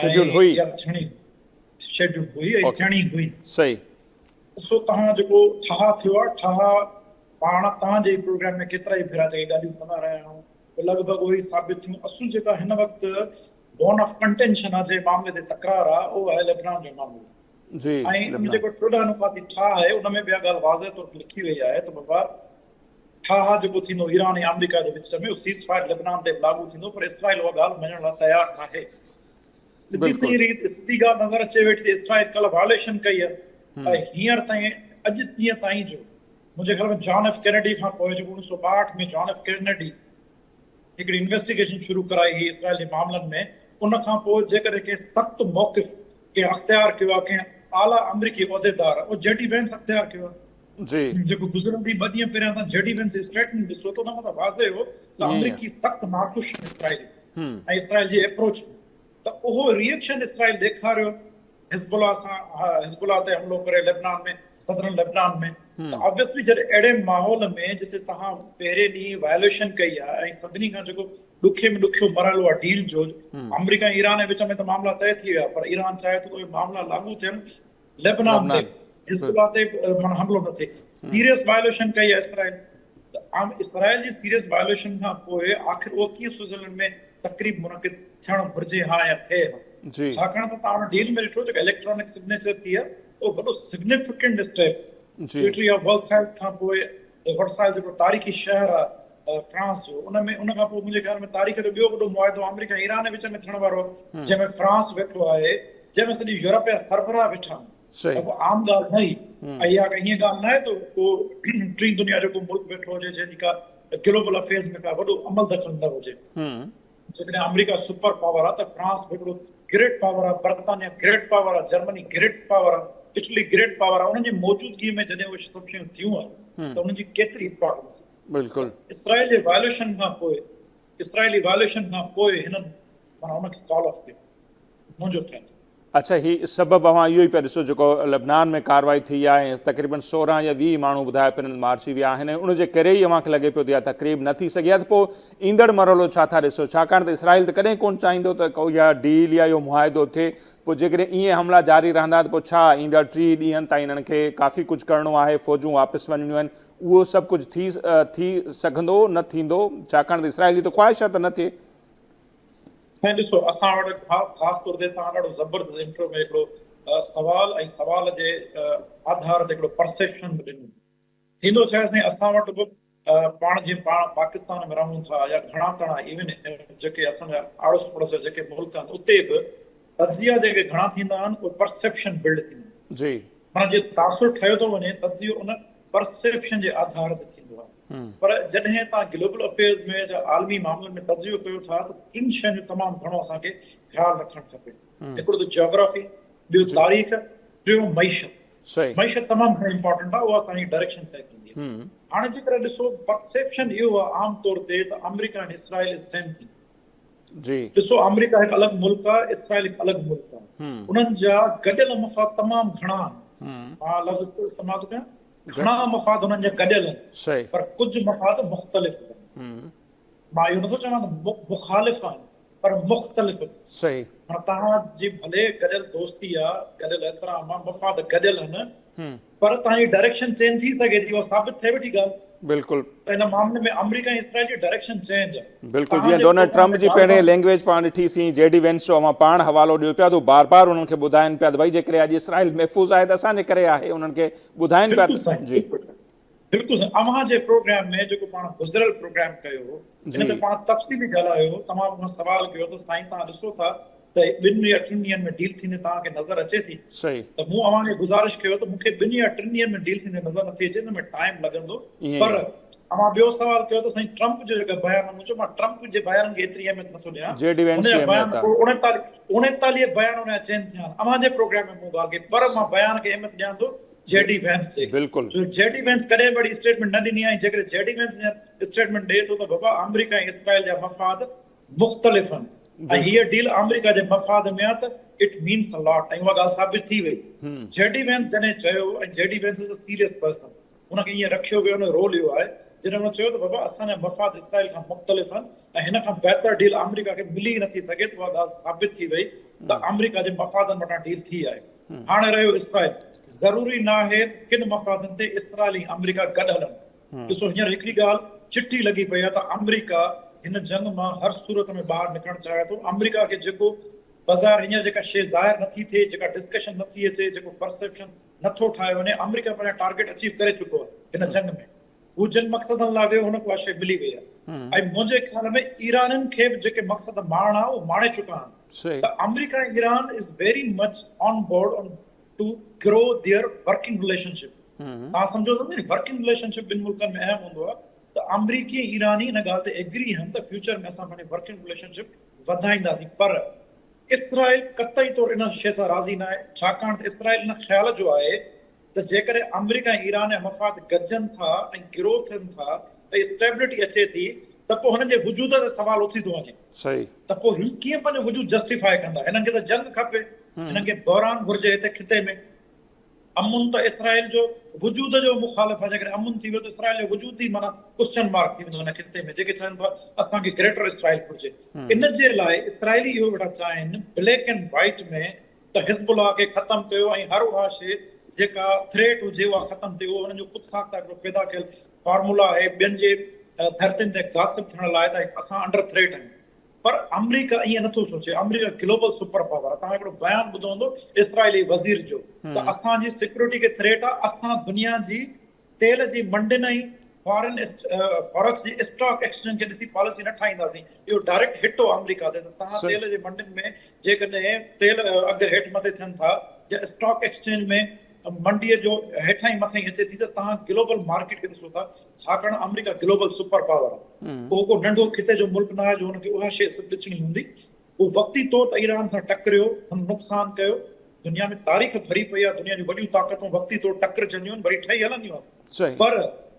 شيڊيول هئي. يا ٿيڻي هئي. شيڊيول هئي ۽ ٿيڻي هئي. صحيح. ڏسو توهان جيڪو ٺاهه ٿيو آهي، ٺاهه پاڻ توهان جي پروگرام ۾ ڪيترائي ڀيرا جيڪي ڳالهيون ڪندا رهيا آهيون، اهي لڳ ڀڳ اهي ئي ثابت ٿيون. اصل جيڪا هن وقت بون آف ڪنٽينشن آهي، جنهن معاملي تي تڪرار آهي، اهو آهي لبنان جو معاملو. جي لبنان. ۽ ان جيڪو چوڏهن نقاطي ٺاهه آهي، ان ۾ به اها ڳالهه واضح طور تي لکي وئي آهي ته بابا، ٺاهه جيڪو ٿيندو ايران ۽ آمريڪا جي وچ ۾ سيز فائر لبنان تي به لاڳو ٿيندو پر اسرائيل اها ڳالهه مڃڻ لاء تيار ناهي سڌي سنئين ريت سڌي ڳالهه نظر اچي ويٺي ته اسرائيل ڪلهه وائليشن ڪئي هي ۽ هينئر تائين اڄ ڏينهن تائين جو منهنجي خيال ۾ جان ايف ڪينيڊي کان پوء جيڪو اڻيهه سؤ ٻاهٺ ۾ جان ايف ڪينيڊي هڪڙي انويسٽيگيشن شروع ڪرائي هئي اسرائيل جي معاملن ۾ ان کان پوء جيڪڏهن ڪنهن سخت موقف ڪنهن اختيار ڪيو آهي ڪنهن اعليٰ آمريڪي عهديدار اهو جي ڊي وينس اختيار ڪيو آهي جي جيڪو گذرندي ٻه ڏينهن پهريان تان جي ڊي وينس جي اسٽيٽمينٽ ڏسو ته ان مان ته واضح هو ته آمريڪي سخت ناخوش آهن اسرائيل ۽ اسرائيل جي ايپروچ ته اهو ري ايڪشن اسرائيل ڏيکاريو حزب الله سان حزب الله تي حملو ڪري لبنان ۾ صدرن لبنان ۾ ته آبويسلي جڏهن اهڙي ماحول ۾ جتي تهان پهرين ڏينهن وائليشن ڪئي آهي ۽ سڀني کان جيڪو ڏکي ۾ ڏکيو مرحلو آهي ڊيل جو آمريڪا ۽ ايران جي وچ ۾ ته معاملا طئي ٿي ويا پر ايران چاهي ٿو ته اهي معاملا لاڳو ٿين لبنان تي حزبالله تي معنيٰ حملو نه ٿئي سيريس وائليشن ڪئي آهي اسرائيل ته اسرائيل جي سيريس وائليشن کان پوء آخر اهو ڪيئن سوئزرلينڊ ۾ تقريب منعقد ٿيڻ گهرجي ها يا ٿئي ها ڇاڪاڻ ته تان ان ڊيل ۾ ڏٺو جيڪا اليڪٽرانڪ سگنيچر ٿي آهي اهو وڏو significant step secretary of world health کان پوء ورسائي جيڪو تاريخي شهر آ فرانس جو ان ۾ ان کان پوء منهنجي خيال ۾ تاريخ جو ٻيو وڏو معاهدو آمريڪا ۽ ايران جي وچ ۾ ٿيڻ وارو آ جنهن ۾ فرانس ويٺو آهي جنهن ۾ سڄي يورپ جا سربراهه ويٺا آهن ته ڪو عام ڳالهه نه هي ۽ اها ڪا ائين ڳالهه نه آهي ته ڪو ٽين دنيا جو ڪو ملڪ ويٺو هجي جنهن جي ڪا گلوبل افيئرز ۾ ڪا وڏو عمل دخل نه هجي. جيڪڏهن آمريڪا سپر پاور آ ته فرانس به هڪڙو گريٽ پاور آ، برطانيا گريٽ پاور آ، جرمني گريٽ پاور آ، اٽلي گريٽ پاور آ، انهن جي موجودگي ۾ جڏهن اهي سڀ شيون ٿيون آهن ته انهن جي ڪيتري امپارٽنس آ. بلڪل. اسرائيل جي وائليشن کان پوء اسرائيلي وائليشن کان پوء هنن معنيٰ ان کي ڪال آف ڪيو. منهنجو ٿيندو. اڇا هي سبب اوهان اهو ئي پيا ڏسو جيڪو لبنان ۾ ڪارروائي ٿي آهي ۽ تقريبن سورهن يا ويهه ماڻهو ٻڌايا پنل مارجي ويا آهن ۽ ان جي ڪري ئي اوهان کي لڳي پيو ته اها تقريب نه ٿي سگهي ها ته پو ايندڙ مرحلو ڇا ٿا ڏسو ڇاڪاڻ ته اسرائيل ته ڪڏهن ڪون چاهيندو ته ڪو اها ڊيل يا اهو معاهدو ٿئي پو جيڪڏهن ايئن حملا جاري رهندا ته پو ڇا ايندڙ ٽيهه ڏينهن تائين انهن کي ڪافي ڪجهه ڪرڻو آهي فوجون واپس وڃڻيون آهن اهو سڀ ڪجهه ٿي ٿي سگهندو نه ٿيندو ڇاڪاڻ ته اسرائيل جي ته خواهش آهي ته نه ٿئي. سائين ڏسو اسان وٽ خاص طور تي توهان ڏاڍو زبردست انٽرو ۾ هڪڙو سوال ۽ سوال جي آڌار تي هڪڙو پرسيپشن به ڏنو. ٿيندو ڇا آهي سائين اسان وٽ به پاڻ جي پاڻ پاڪستان ۾ رهون ٿا يا گهڻا تڻا ايون جيڪي اسان جا آڙوس پڙوس جا جيڪي ملڪ آهن اتي به تجزيا جيڪي گهڻا ٿيندا آهن اهي پرسيپشن بلڊ ٿيندا آهن. جي. معنيٰ جي تاثر ٺهيو ٿو وڃي تجزيو ان پرسيپشن جي آڌار تي ٿيندو آهي پر جڏهن توهان گلوبل افيئرز ۾ جا عالمي معاملن ۾ تجزيو ڪيو ٿا ته ٽن شين جو تمام گهڻو اسان کي خيال رکڻ کپي هڪڙو ته جاگرافي ٻيو تاريخ ٽيون معيشت معيشت تمام گهڻي امپارٽنٽ آهي اها اسان جي ڊائريڪشن طئي ڪندي آهي هاڻي جيڪڏهن ڏسو پرسيپشن اهو آهي عام طور تي ته آمريڪا ۽ اسرائيل از سيم ٿنگ جي. ڏسو آمريڪا هڪ الڳ ملڪ آهي اسرائيل هڪ الڳ ملڪ آهي انهن جا گڏيل مفاد تمام گهڻا آهن مان لفظ استعمال ٿو ڪيان گهڻا مفاد انهن جا گڏيل آهن صحيح پر ڪجهه مفاد مختلف به آهن مان اهو نٿو چوان ته مخالف آهن پر مختلف به صحيح هاڻي توهان جي ڀلي گڏيل دوستي آهي گڏيل احترام آهي مفاد گڏيل آهن پر اتان جي ڊائريڪشن چينج ٿي سگهي ٿي اها ثابت ٿئي ويٺي ڳالهه بلڪل ته هن معاملي ۾ آمريڪا ۽ اسرائيل جي ڊائريڪشن چينج آهي بلڪل جيئن ڊونلڊ ٽرمپ جي پهرين لينگويج پاڻ ڏٺي سين جي ڊي وينس جو اوهان پاڻ حوالو ڏيو پيا ته بار بار انهن کي ٻڌائين پيا ته ڀئي جيڪڏهن اڄ اسرائيل محفوظ آهي ته اسان جي ڪري آهي انهن کي ٻڌائين پيا ته جي بلڪل سر اوهان جي پروگرام ۾ جيڪو پاڻ گذريل پروگرام ڪيو هو ان تي پاڻ تفصيلي ڳالهايو هو تمام اوهان سوال ڪيو ته سائين توهان ڏسو ٿا ته ٻن يا ٽن ڏينهن ۾ ڊيل ٿيندي توهان کي نظر اچي ٿي ته مون اوهان کي گذارش ڪيو ته مونکي ٻن يا ٽن ڏينهن ۾ ڊيل ٿيندي نظر نٿي اچي ان ۾ ٽائيم لڳندو پر اوهان ٻيو سوال ڪيو ته سائين ٽرمپ جو جيڪا بيان آهي مون چيو مان ٽرمپ جي بيانن کي ايتري اهميت نٿو ڏيان ان جا بيان اڻيتاليهه بيان ان جا چين ٿيا آهن اوهان جي پروگرام ۾ مون ڳالهه ڪئي پر مان بيان کي اهميت ڏيان ٿو جي ڊي وينس جي بلڪل جو جي ڊي وينس ڪڏهن به اهڙي اسٽيٽمينٽ نه ڏني آهي جيڪڏهن جي ڊي وينس هيئن اسٽيٽمينٽ ڏئي ٿو ته بابا آمريڪا ۽ اسرائيل جا مفاد مختلف آهن ۽ هيء ڊيل آمريڪا جي مفاد ۾ آهي ته اٽ مينس ا لاٽ ۽ اها ڳالهه ثابت ٿي وئي جي ڊي وينس جڏهن چيو ۽ J D Vance is a serious person ان کي ايئن رکيو ويو ان جو رول اهو آهي جڏهن هن چيو ته بابا اسان جا مفاد اسرائيل کان مختلف آهن ۽ هن کان بهتر ڊيل آمريڪا کي ملي ئي نٿي سگهي ته اها ڳالهه ثابت ٿي وئي ته آمريڪا جي مفادن وٽان ڊيل ٿي آهي هاڻي رهيو اسرائيل، ضروري ناهي ته ڪن مفادن تي اسرائيل ۽ آمريڪا گڏ هلن. ڏسو هينئر هڪڙي ڳالهه چٽي لڳي پئي آهي ته آمريڪا هن جنگ مان هر صورت ۾ ٻاهر نڪرڻ چاهي ٿو. آمريڪا کي جيڪو بظاهر هينئر جيڪا شيء ظاهر نٿي ٿئي، جيڪا ڊسڪشن نٿي اچي، جيڪو پرسيپشن نٿو ٺاهيو وڃي، آمريڪا پنهنجا ٽارگيٽ اچيو ڪري چڪو آهي هن جنگ ۾. هو جن مقصدن لاء ويو هن کي اها شيء ملي وئي آهي ۽ منهنجي خيال ۾ ايرانين کي به جيڪي مقصد ماڻڻا اهي ماڻي چڪا آهن ته آمريڪا ۽ ايران is very much on board on to grow their working relationship توهان سمجهو ٿا نه ورڪنگ رليشن شپ ٻن ملڪن ۾ اهم هوندو آهي ته آمريڪي ۽ ايراني ان ڳالهه تي ايگري آهن ته فيوچر ۾ اسان پنهنجي ورڪنگ رليشن شپ وڌائينداسين پر اسرائيل قطعي طور ان شيء سان راضي ناهي ڇاڪاڻ ته اسرائيل ان خيال جو آهي ته جيڪڏهن آمريڪا ۽ ايران جا مفاد گڏجن ٿا ۽ گرو ٿين ٿا ۽ اسٽيبلٽي اچي ٿي ته پوء هنن جي وجود تي سوال اٿي ٿو وڃي صحيح. ته پوء هي ڪيئن پنهنجو وجود جسٽيفاء ڪندا هنن کي ته جنگ کپي هنن کي بحران گهرجي هتي خطي ۾ امن ته اسرائيل جو وجود جو مخالف آهي جيڪڏهن امن ٿي ويو ته اسرائيل جو وجود ئي معنيٰ ڪوسچن مارڪ ٿي ويندو هن خطي ۾ جيڪي چون ٿا اسان کي گريٽر اسرائيل گهرجي ان جي لاء اسرائيلي اهو ويٺا چاهين بليڪ اينڊ وائيٽ ۾ ته حزب الله کي ختم ڪيو ۽ هر اها شيء جيڪا ٿريٽ هجي اها ختم ٿئي اهو هنن جو خود ساخته هڪڙو پيدا ڪيل فارمولا آهي ٻين جي ڌرتين تي غاصب ٿيڻ لاء ته اسان انڊر ٿريٽ آهيون پر آمريڪا ائين نٿو سوچي آمريڪا گلوبل سپر پاور آهي توهان هڪڙو بيان ٻڌو هوندو اسرائيلي وزير جو ته اسان جي سيڪيورٽي کي ٿريٽ آهي اسان دنيا جي تيل جي منڊين ۽ فارن فارڪس جي اسٽاڪ ايڪسچينج کي ڏسي پاليسي نه ٺاهينداسين، اهو ڊائريڪٽ هٽ هو آمريڪا تي ته تهان تيل جي منڊين ۾ جيڪڏهن تيل اگهه هيٺ مٿي ٿين ٿا يا اسٽاڪ ايڪسچينج ۾ منڊيء جو هيٺاهين مٿاهين اچي ٿي ته تهان گلوبل مارڪيٽ کي ڏسو ٿا ڇاڪاڻ آمريڪا گلوبل سپر پاور آهي اهو ڪو ننڍو خطي جو ملڪ نه آهي جو ان کي اها شيء سڀ ڏسڻي هوندي. هو وقتي طور ته ايران سان ٽڪريو، هن نقصان ڪيو، دنيا ۾ تاريخ ڀري پئي آهي، دنيا جون وڏيون طاقتون وقتي طور ٽڪرجنديون آهن، وري ٺهي هلنديون آهن، پر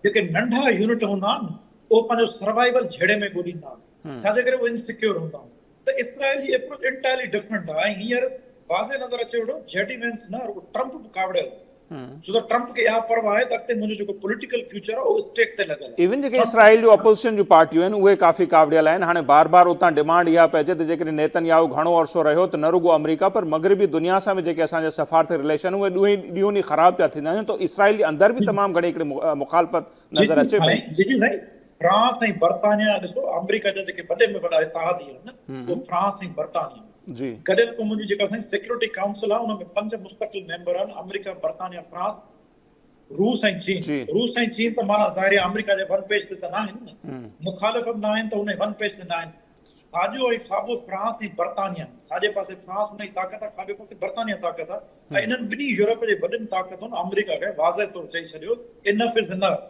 جيڪي ننڍا يونٽ هوندا آهن، اهي پنهنجو سروائيول جهيڙي ۾ ڳوليندا آهن، ڇا جي ڪري اهي ان سيڪيور هوندا آهن ته اسرائيل جي ايپروچ انٽائرلي ڊفرنٽ آهي ۽ هينئر واضح نظر اچي ويٺو، جي ڊي وينس نه رڳو ٽرمپ به ڪاوڙيل ٿي ويو. ڇو ته ٽرمپ کي اها پرواهه آهي ته اڳتي منهنجو جيڪو پوليٽيڪل فيوچر آهي اهو اسٽيڪ تي لڳل آهي. ايون جيڪي اسرائيل جون اپوزيشن جون پارٽيون آهن اهي ڪافي ڪاوڙيل آهن، هاڻي بار بار اتان ڊمانڊ اها پئي اچي ته جيڪڏهن نيتن ياهو گهڻو عرصو رهيو ته نه رڳو آمريڪا پر مغربي دنيا سان به جيڪي اسان جا سفارتي رليشن اهي ڏونهين ڏيون ڏينهن خراب پيا ٿيندا وڃن ته اسرائيل جي اندر به تمام گهڻي هڪڙي مخالفت نظر اچي پئي. جي جي سائين فرانس ۽ برطانيا ڏسو آمريڪا جا جيڪي وڏي ۾ وڏا اتحادي آهن اهي فرانس ۽ برطانيا آهن. جي. گڏيل قومن جي جيڪا سائين سيڪيورٽي ڪائونسل آهي ان ۾ پنج مستقل ميمبر آهن آمريڪا، برطانيا، فرانس، روس ۽ چين. جي. روس ۽ چين ته معنيٰ ظاهر آهي آمريڪا جي ون پيج تي ته ناهن نه. مخالف به ناهن ته انهي ون پيج تي ناهن. ساڄو ۽ کاٻو فرانس ۽ برطانيا آهن. ساڄي پاسي فرانس انهي طاقت آهي کاٻي پاسي برطانيا طاقت آهي ۽ انهن ٻنهي يورپ جي وڏين طاقتن آمريڪا کي واضح طور چئي ڇڏيو Enough is Enough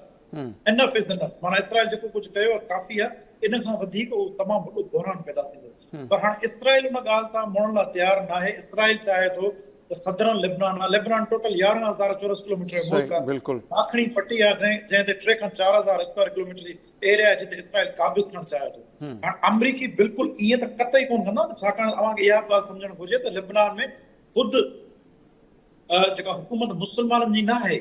Enough is Enough معنيٰ اسرائيل جيڪو ڪجهه ڪيو آهي ڪافي آهي ان کان وڌيڪ اهو تمام وڏو بحران پيدا ٿيندو. پر هاڻ اسرائيل ان ڳالهه تان مڙڻ لاء تيار ناهي، اسرائيل چاهي ٿو ته سدرن لبنان آهي، لبنان ٽوٽل يارهن هزار چورس ڪلوميٽر جو ملڪ آهي، ماکڻي پٽي آهي جنهن جنهن تي ٽي کان چار هزار اسڪوائر ڪلوميٽر جي ايريا آهي جتي اسرائيل قابض ٿيڻ چاهي ٿو، هاڻ آمريڪي بلڪل ائين ته قطعي ڪونه ڪندا نه ڇاڪاڻ ته اوهان کي اها به ڳالهه سمجهڻ گهرجي ته لبنان ۾ خود جيڪا حڪومت مسلمانن جي ناهي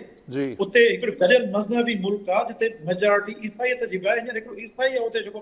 اتي هڪڙو گڏيل مذهبي ملڪ آهي جتي ميجارٽي عيسائيت جي به آهي، هينئر هڪڙو عيسائي آهي اتي جيڪو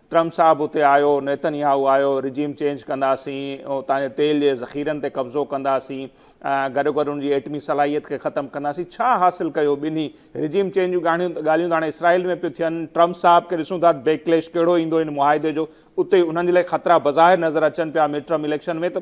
ٽرمپ صاحب اتي آيو، نيتن ياهو آيو، رجيم چينج ڪنداسين، اتان جي تيل جي ذخيرن تي قبضو ڪنداسين، گڏوگڏ ان جي ايٽمي صلاحيت کي ختم ڪنداسين، ڇا حاصل ڪيو ٻنهي؟ رجيم چينج جون ڳالهيون ته هاڻي اسرائيل ۾ پيون ٿين، ٽرمپ صاحب کي ڏسون ٿا ته بيڪليش ڪهڙو ايندو ان معاهدي جو، اتي انهن جي لاء خطرا بظاهر نظر اچن پيا مڊ ٽرم اليڪشن ۾ ته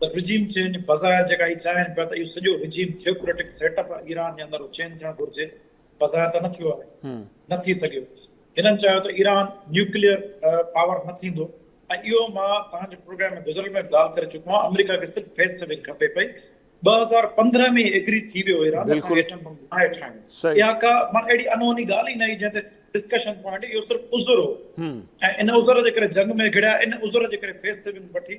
ته رجيم چينج بظاهر جيڪا هي چاهين پيا ته اهو سڄو regime theocratic set up Iran جي اندر چينج ٿيڻ گهرجي بظاهر ته نه ٿيو آهي نه ٿي سگهيو هنن چاهيو ته ايران نيوڪليئر پاور نه ٿيندو ۽ اهو مان توهان جي پروگرام ۾ گذريل ۾ به ڳالهه ڪري چڪو آهيان آمريڪا کي صرف فيس سيونگ کپي پئي ٻه هزار پندرهن ۾ ئي ايگري ٿي ويو ايران اسان کي ايٽم بم ناهي ٺاهڻو اها ڪا مان اهڙي انهوني ڳالهه ئي نه هئي جنهن تي ڊسڪشن پوائنٽ اهو صرف عذر هو ۽ ان عذر جي ڪري جنگ ۾ گهڙيا ان عذر جي ڪري فيس سيونگ وٺي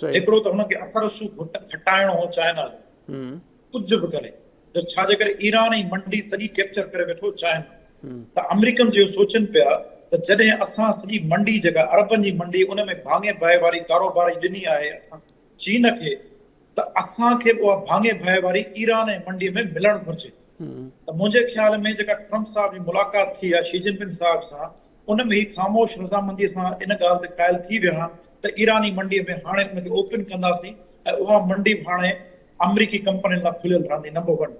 صحيح. هڪڙو ته هن کي اثر رسوخ گهٽ کٽائڻو هو چائنا جو ڪجهه به ڪري جو ڇا جي ڪري ايران ۽ منڊي سڄي ڪيپچر ڪري ويٺو چائنا ته امريڪنز اهو سوچين پيا ته جڏهن اسان سڄي منڊي جيڪا عربن جي منڊي ان ۾ ڀاڱي ڀائي واري ڪاروبار جي ڏني آهي اسان چين کي ته اسان کي به اها ڀاڱي ڀائي واري ايران ۽ منڊي ۾ ملڻ گهرجي ته منهنجي خيال ۾ جيڪا ٽرمپ صاحب جي ملاقات ٿي آهي شي جن پنگ صاحب سان ان ۾ هي خاموش رضامنديء سان ان ڳالهه تي قائل ٿي ويا آهن ته ايراني منڊيء ۾ هاڻي ان کي اوپن ڪنداسين ۽ اها منڊي به هاڻي آمريڪي ڪمپنين لاء کليل رهندي number one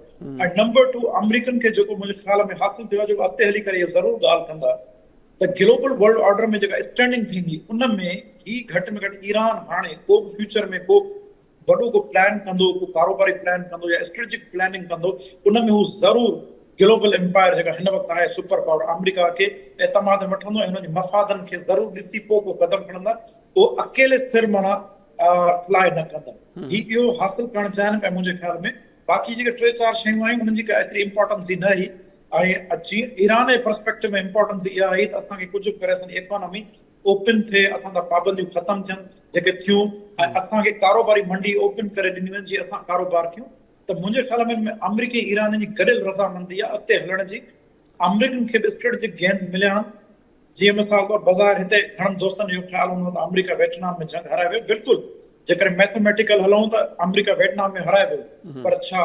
۽ number two American کي جيڪو منهنجي خيال ۾ حاصل ٿيو آهي جيڪو اڳتي هلي ڪري اهي ضرور ڳالهه ڪندا ته گلوبل ورلڊ آرڊر ۾ جيڪا اسٽينڊنگ ٿيندي ان ۾ هي گهٽ ۾ گهٽ ايران هاڻي ڪوبه فيوچر ۾ ڪوبه وڏو ڪو پلان ڪندو، ڪو ڪاروباري پلان ڪندو يا اسٽريٽجڪ پلاننگ ڪندو ان ۾ هو ضرور گلوبل امپائر جيڪا هن وقت آهي سپر پاور آمريڪا کي اعتماد ۾ وٺندو ۽ هن جي مفادن کي ضرور ڏسي پوء ڪو قدم کڻندا، اهو اڪيلي سر معنيٰ ٽرائي نه ڪندا. هي اهو حاصل ڪرڻ چاهين پيا منهنجي خيال ۾ باقي جيڪي ٽي چار شيون آيون انهن جي ڪا ايتري امپارٽنس ئي نه هئي ۽ جيئن ايران جي پرسپيڪٽو ۾ امپارٽنس اها هئي ته اسان کي ڪجهه به ڪري اسان جي ايڪانامي اوپن ٿئي، اسان تان پابنديون ختم ٿين جيڪي ٿيون ۽ اسان کي ڪاروباري منڊي اوپن ڪري ڏني وڃي جي اسان ڪاروبار ڪيون ته منهنجي خيال ۾ ان ۾ آمريڪي ۽ ايرانين جي گڏيل رضامندي آهي اڳتي هلڻ جي آمريڪين کي به اسٽريٽجڪ گينز مليا آهن جيئن مثال طور بظاهر هتي گهڻن دوستن اهو خيال هوندو ته آمريڪا ويٽنام ۾ جنگ هارائي ويو بلڪل جيڪڏهن ميٿميٽيڪل هلون ته آمريڪا ويٽنام ۾ هارائي ويو پر ڇا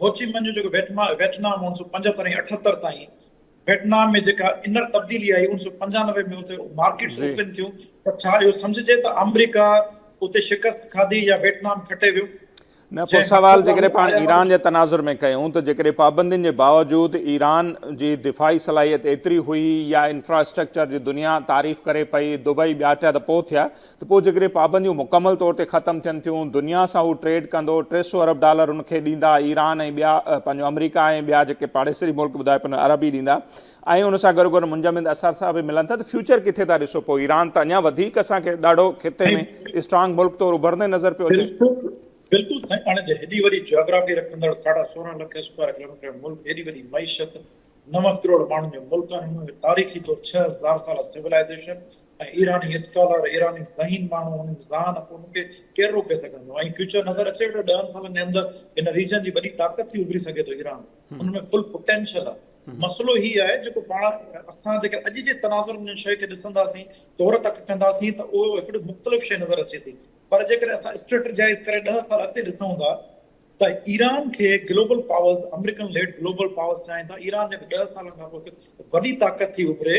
هوچي منهن جو جيڪو ويٽنام اڻيسو پنجهتر ۽ اٺهتر تائين ويٽنام ۾ جيڪا انر تبديلي آئي اوڻ سؤ پنجانوي ۾ اتي مارڪيٽس اوپن ٿيون ته ڇا اهو سمجهجي ته آمريڪا اتي شڪست کاڌي يا ويٽنام کٽي ويو؟ نه پوء سوال جيڪڏهن پاڻ ايران جي تناظر ۾ ڪيون ته جيڪڏهن پابندين جي باوجود ايران جي دفاعي صلاحيت ايتري هئي يا انفراسٽرڪچر جي دنيا تعريف ڪري پئي دبئي ٻيا ٽيا ته پوء ٿيا ته پوء جيڪڏهن پابنديون مڪمل طور تي ختم ٿين ٿيون، دنيا سان هو ٽريڊ ڪندو، ٽي سؤ ارب ڊالر هن کي ڏيندا، ايران ۽ ٻيا، پنهنجو آمريڪا ۽ ٻيا جيڪي پاڙيسري ملڪ ٻڌايو پنهنجو ارب ئي ڏيندا ۽ ان سان گڏوگڏ منجمد اثاثا به ملن ٿا ته فيوچر ڪٿي ٿا ڏسو پوء ايران ته اڃا وڌيڪ اسان کي ڏاڍو خطي ۾ اسٽرانگ ملڪ طور اڀرندي نظر پيو اچي. بلڪل سائين پاڻ جي هيڏي وڏي جيوگرافي رکندڙ ساڍا سورهن لک اسڪوائر ڪلوميٽر ملڪ هيڏي وڏي معيشت نون ڪروڙ ماڻهن جو ملڪ ۽ ان ۾ تاريخي طور ڇهه هزار سالا سولائيزيشن ۽ ايراني اسڪالر، ايراني ذهين ماڻهو هن جي ذهان ڪو ان کي ڪير روڪي سگهندو ۽ فيوچر نظر اچي ويٺو ڏهن سالن جي اندر هن ريجن جي وڏي طاقت ٿي اڀري سگهي ٿو ايران ان ۾ فل پوٽينشل آهي مسئلو هي آهي جيڪو پاڻ اسان جيڪر اڄ جي تناظر ۾ شيء کي ڏسنداسين طور تڪ ڪنداسين ته اهو هڪڙي مختلف شيء نظر اچي ٿي پر جيڪر اسان اسٽريٽجائز ڪري ڏهه سال اڳتي ڏسون ٿا ته ايران کي global powers, American lead global powers چاهين ٿا، ايران جيڪر ڏهه سالن کان پوء هڪ وڏي طاقت ٿي اڀري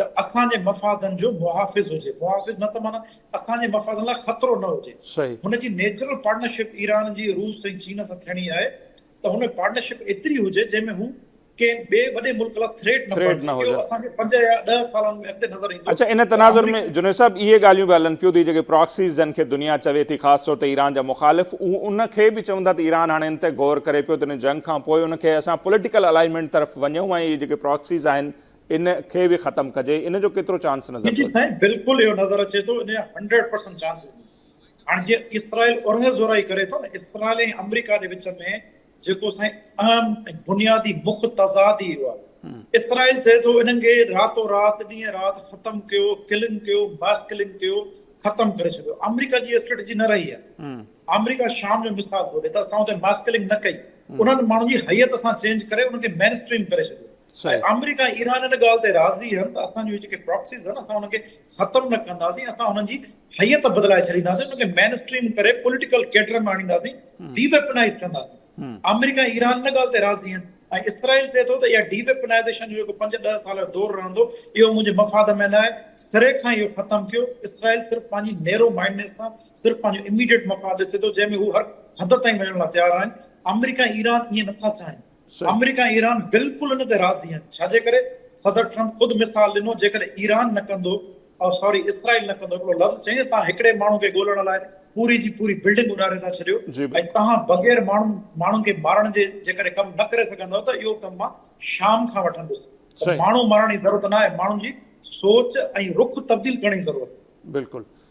ته اسان جي مفادن جو محافظ هجي، محافظ نه ته معنيٰ اسان جي مفادن لاء خطرو نه هجي. هن جي نيچرل پارٽنرشپ ايران جي روس ۽ چين سان ٿيڻي آهي ته هن ۾ پارٽنرشپ ايتري هجي جنهن ۾ هو ڪنهن ٻئي وڏي ملڪ لاء ٿريٽ نه بڻجي، اهو اسان کي پنج يا ڏهه سالن ۾ اڳتي نظر ايندو اڇا ان تناظر ۾ جنيد صاحب اهي ڳالهيون به هلن پيون ته اهي جيڪي پراڪسيز جن کي دنيا چوي ٿي خاص طور تي ايران جا مخالف اهو ان کي به چون ٿا ته ايران هاڻي ان تي غور ڪري پيو ته ان جنگ کان پوء ان کي اسان پوليٽيڪل الائنمينٽ طرف وڃون ۽ اهي جيڪي پراڪسيز آهن ان کي به ختم ڪجي ان جو ڪيترو چانس نظر جي جي سائين بلڪل اهو نظر اچي ٿو ان جا هنڊريڊ پرسنٽ چانسز آهن هاڻ جيئن اسرائيل اورهه زورائي ڪري ٿو نه اسرائيل ۽ آمريڪا جي وچ ۾ جيڪو سائين اهم ۽ بنيادي مک تضاد ئي اهو آهي. اسرائيل چئي ٿو انهن کي راتو رات ڏينهن رات ختم ڪيو، ڪلنگ ڪيو، ماس ڪلنگ ڪيو، ختم ڪري ڇڏيو. آمريڪا جي اسٽريٽجي نه رهي آهي. آمريڪا شام جو مثال ٿو ڏئي ته اسان اتي ماس ڪلنگ نه ڪئي، انهن ماڻهن جي هئيت اسان چينج ڪري انهن کي مين اسٽريم ڪري ڇڏيو. ۽ آمريڪا ۽ ايران ان ڳالهه تي راضي آهن ته اسان جون جيڪي پراڪسيز آهن اسان انهن کي ختم نه ڪنداسين اسان انهن جي هيئت بدلائي ڇڏينداسين انهن کي مين اسٽريم ڪري پوليٽيڪل ڪيڊر ۾ آڻينداسين ڊي ويپنائيز ڪنداسين آمريڪا ۽ ايران ان ڳالهه تي راضي آهن ۽ اسرائيل چئي ٿو ته اها ڊي ويپنائيزيشن جو جيڪو پنج ڏهه سال جو دور رهندو اهو منهنجي مفاد ۾ نه آهي سري کان اهو ختم ڪيو اسرائيل صرف پنهنجي نيرو مائنڊنس سان صرف پنهنجو اميڊيٽ مفاد ڏسي ٿو جنهن ۾ هو هر حد تائين وڃڻ لاء تيار آهن آمريڪا ۽ ايران ائين نٿا چاهين آمريڪا ۽ ايران بلڪل ان تي راضي آهن ڇاجي ڪري صدر ٽرمپ خود مثال ڏنو جيڪڏهن ايران نه ڪندو او ساري اسرائيل نه ڪندو هڪڙو لفظ چئي توهان هڪڙي ماڻهو کي ڳولڻ لاء پوري جي پوري بلڊنگ اڏاري ٿا ڇڏيو ۽ توهان بغير ماڻهن ماڻهن کي مارڻ جي جيڪڏهن ڪم نه ڪري سگهندؤ ته اهو ڪم مان شام کان وٺندس ته ماڻهو مارڻ جي ضرورت نه آهي ماڻهن جي سوچ ۽ رخ تبديل ڪرڻ جي ضرورت آهي بلڪل